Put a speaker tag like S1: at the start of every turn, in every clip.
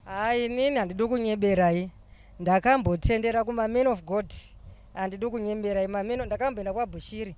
S1: Haa inini handidi kunyeberai ndakambotendera kumaman of god handidi kunyeberai mameno ndakamboenda kwabushiri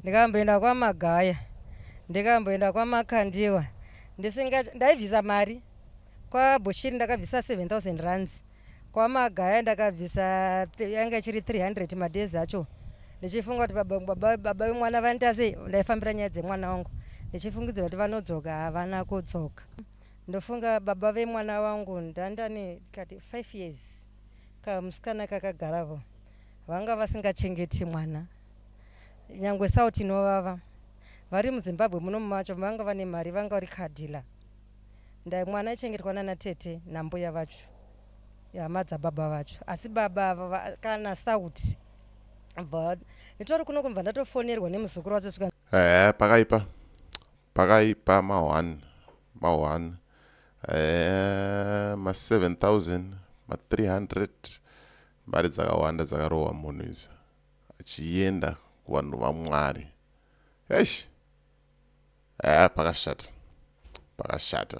S1: ndikamboenda kwamagaya ndikamboenda kwamakandiwa ndisinga ndaibvisa mari kwabushiri ndakabvisa 7000 rands kwamagaya ndakabvisa yanga ichiri 300 madhezi acho ndichifunga kuti baba vemwana vanditasei ndaifambira nyaya dzemwana wangu ndichifungidzira kuti vanodzoka havana kudzoka Ndofunga baba vemwana wangu ndandane kati 5 years kamusikana kakagaravo vanga vasingachengeti mwana nyangwe sauti inovava vari muzimbabwe muno macho vanga vane mari vanga vari kadhila ndai mwana aichengetwa nana tete nambuya vacho hama dzababa vacho asi baba ava kana sauti but nditori kuno kumva ndatofonerwa nemuzukuru wacho sika pakaipa
S2: Pakaipa ma one ma one eh, ma 7000 ma 300 mari dzakawanda dzakarohwa munhu idzi achienda kuvanhu vamwari eish eh, pakashata pakashata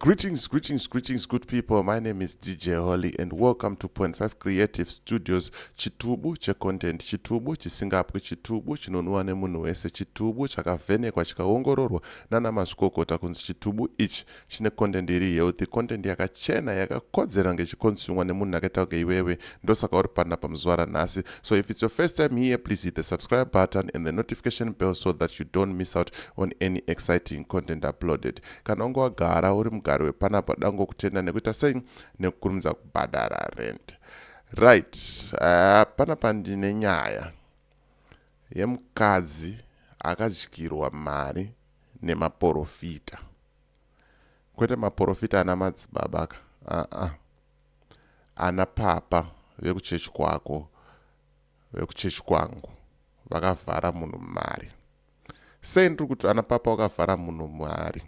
S2: Greetings, greetings, greetings, good people. My name is DJ Holly, and welcome to Point Five Creative Studios. Chitubu checontent, chitubu chisingapwi, chitubu chinonwiwa nemunhu wese, chitubu chakavhenekwa chikaongororwa nana mazvikokota kunzi chitubu ichi chine content iri healthy, content yakachena yakakodzera ngechikonsumwa nemunhu akaita kunge iwewe. Ndosaka uri pana pamuzuva ranhasi. So if it's your first time here, please hit the subscribe button and the notification bell so that you don't miss out on any exciting content uploaded. Kana wanga wagara uri mugari wepanapa dango kutenda nekuita sei nekukurumidza kubhadhara rent. Right, uh, panapa ndine nyaya yemukadzi akadyirwa mari nemaporofita kwete maporofita ana madzibaba ka aa uh -uh. ana papa vekuchechi kwako vekuchechi kwangu vakavhara munhu mari sei ndiri kuti ana papa wakavhara munhu muhari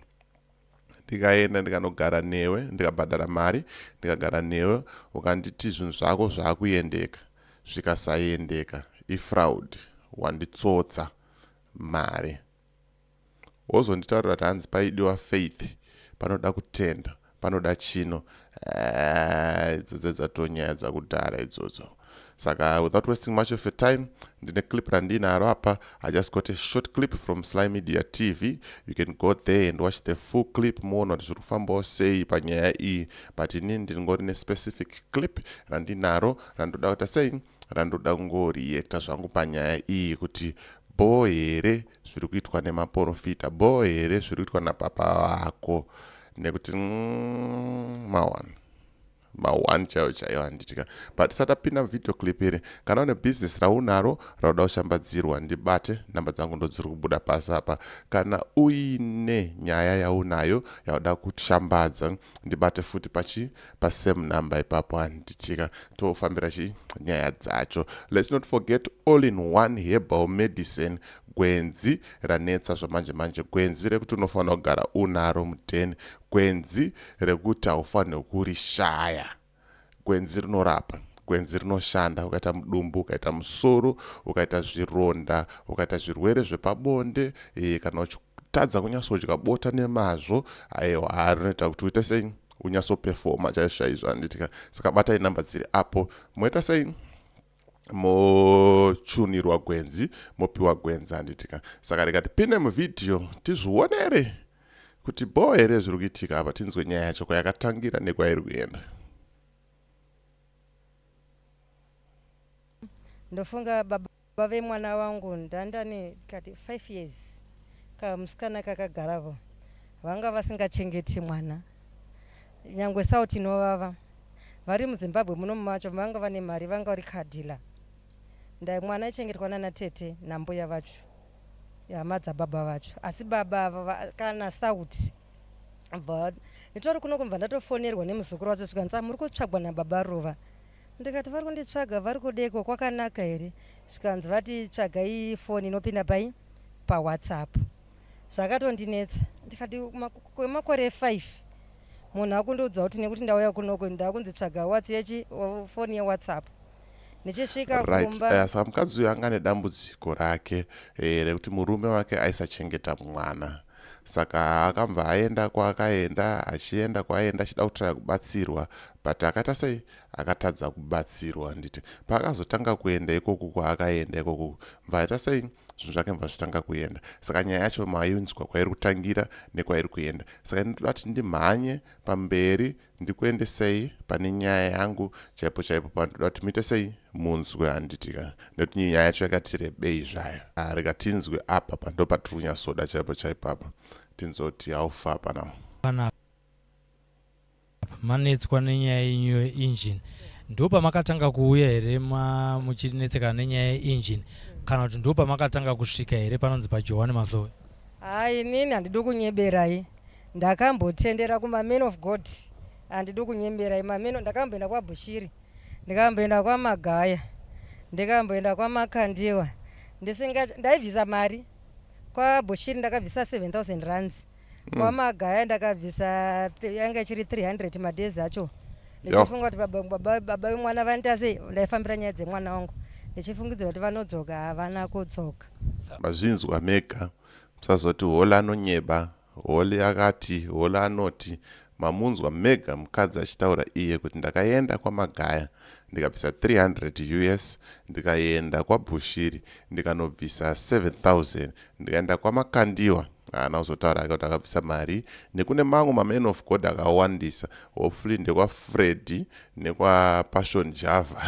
S2: ndikaenda ndikanogara newe ndikabhadhara mari ndikagara newe ukanditi zvinhu zvako zvaakuendeka zvikasaiendeka ifraud wanditsotsa mari wozonditaurira kuti hanzi paidiwa faith panoda kutenda panoda chino eh, idzo dzedzatonyaya dzakudhara idzodzo saka without wasting much of your time ndine clip randinaro apa i just got a short clip from sly media tv you can go there and watch the full clip muona kuti zviri kufambawo sei panyaya iyi but ini ndingori nespecific clip randinaro randoda kuita sei randoda kungoriekta zvangu panyaya iyi kuti bhoo here zviri kuitwa nemaporofita bhoo here zviri kuitwa napapa vako nekuti mm, mawana mahwani chaiyo chaiyo handitika but tisati tapinda muvideo clip iri kana une bhizinesi raunaro rauda kushambadzirwa ndibate nhamba dzangu ndodziri kubuda pasi apa kana uine nyaya yaunayo yauda kushambadza ndibate futi pachi pasame number ipapo handichika tofambira chi nyaya dzacho let's not forget all in one herbal medicine gwenzi ranetsa zvamanje manje gwenzi rekuti unofanira kugara unaro mudheni gwenzi rekuti haufanirwe kurishaya gwenzi rinorapa gwenzi rinoshanda ukaita mudumbu ukaita musoro ukaita zvironda ukaita zvirwere zvepabonde e, kana uchitadza kunyatsodya bota nemazvo aiwa rinoita kuti uite sei unyatsopefoma chaizvo chaizvo handiti ka saka batai number dziri apo moita sei mochunirwa gwenzi mopiwa gwenzi handiti ka saka rega tipinde muvhidhiyo tizvionere kuti bho here zviri kuitika apa tinzwe nyaya yacho kwayakatangira nekwairi kuenda ndofunga
S1: baba Baba vemwana wangu ndandane kati 5 years kamusikana kakagaravo vanga vasingachengeti mwana nyangwe sauti inovava vari muzimbabwe muno macho vanga vane mari vanga vari kadhila ndai mwana aichengetwa nana tete nambuya vacho hama dzababa vacho asi baba ava kana sauti but nditori kuno kumva ndatofonerwa nemuzukuru wacho zvikanzi ah, muri kutsvagwa nababa ruva ndikati vari kunditsvaga vari kudeko kwakanaka here zvikanzi vati tsvagai foni inopinda pai pawhatsapp zvakatondinetsa ndikati kwemakore 5 munhu akundiudza kuti nekuti ndauya kunoko ndakunzitsvaga watsi yechi foni yewhatsapp ndichisvika right eh, sa mukadzi uyo anga
S2: nedambudziko rake eh, rekuti murume wake aisachengeta mwana saka akambva aenda kwaakaenda achienda kwaaienda achida kutraya kubatsirwa but akaita sei akatadza kubatsirwa handiti paakazotanga kuenda ikoku kwaakaenda ikoku mva aita sei zvinhu zvake mva zvitanga kuenda saka nyaya yacho mainzwa kwairi kutangira nekwairi kuenda saka ndinoti ndimhanye pamberi ndikuendesei pane nyaya yangu chaipo chaipo pandoda kuti muite sei munzwe handitika nekuti nyaya yacho yakati rebei zvayo ah, rega tinzwe apa pando patiri kunyatsoda chaipo chaipo apa tinzwe kuti haufa pana
S3: pana manetswa nenyaya yenyu yeengine ndo pamakatanga kuuya here muchinetsekana nenyaya yeengine kana kuti ndo pamakatanga kusvika here panonzi pajohani mazowe haa inini
S1: handidi kunyeberai Ndakambotendera kuma man of God andidi kunyembera imameno ndakamboenda kwabushiri ndikamboenda kwamagaya ndikamboenda kwamakandiwa ndisinga ndaibvisa mari kwabushiri ndakabvisa 7000 rands mm. kwamagaya ndakabvisa yanga ichiri 300 madezi acho ndichifunga kuti baba vemwana vanoita sei ndaifambira nyaya dzemwana wangu ndichifungidzira kuti vanodzoka havana kudzoka mazvinzwa
S2: mega musazoti hola anonyeba Holly akati, Holly anoti, Mamunzwa mega mukadzi achitaura iye kuti ndakaenda kwaMagaya ndikabvisa 300 us ndikaenda kwaBushiri ndikanobvisa 7000 ndikaenda kwaMakandiwa haana kuzotaura ake kuti akabvisa mari nekune mamwe maman of god akawandisa hopefully ndekwafredi nekwapassion java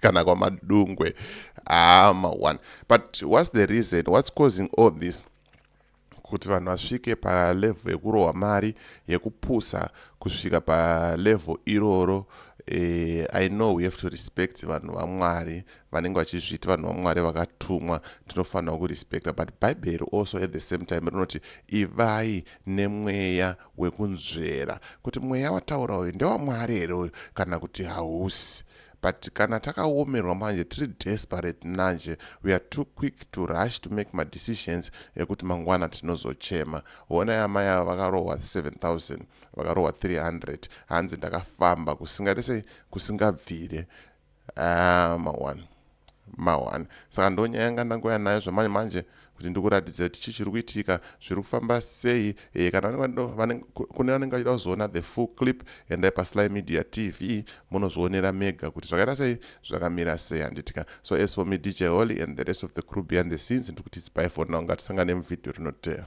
S2: kana kwamadungwe aama one but what's the reason what's causing all this kuti vanhu vasvike palevho yekurohwa mari yekupusa kusvika palevho iroro eh, i know we have to respect vanhu vamwari vanenge vachizviti vanhu vamwari vakatumwa tinofanira kurespecta but bhaibheri also at the same time rinoti ivai nemweya wekunzvera kuti mweya wataura uyu ndewamwari here uyu kana kuti hausi but kana takaomerwa manje tiri desperate nanje we are too quick to rush to make madecisions ekuti mangwana tinozochema honai amai ava vakarohwa 7000 vakarohwa 300 hanzi ndakafamba kusingaite sei kusingabvire ah, mawan mawan saka ndonyaya yanga ndangoya nayo zvamanje manje kuti ndikuratidze kuti chii chiri kuitika zviri kufamba sei e, kana kune vanenge vachida kuzoona the full clip endai pasly media tv munozvionera mega kuti zvakaita sei zvakamira sei handitika so as for me dj holy and the rest of the crew behind the scenes ndikuti tsipai for now ngatisangane muvhidhiyo rinoteera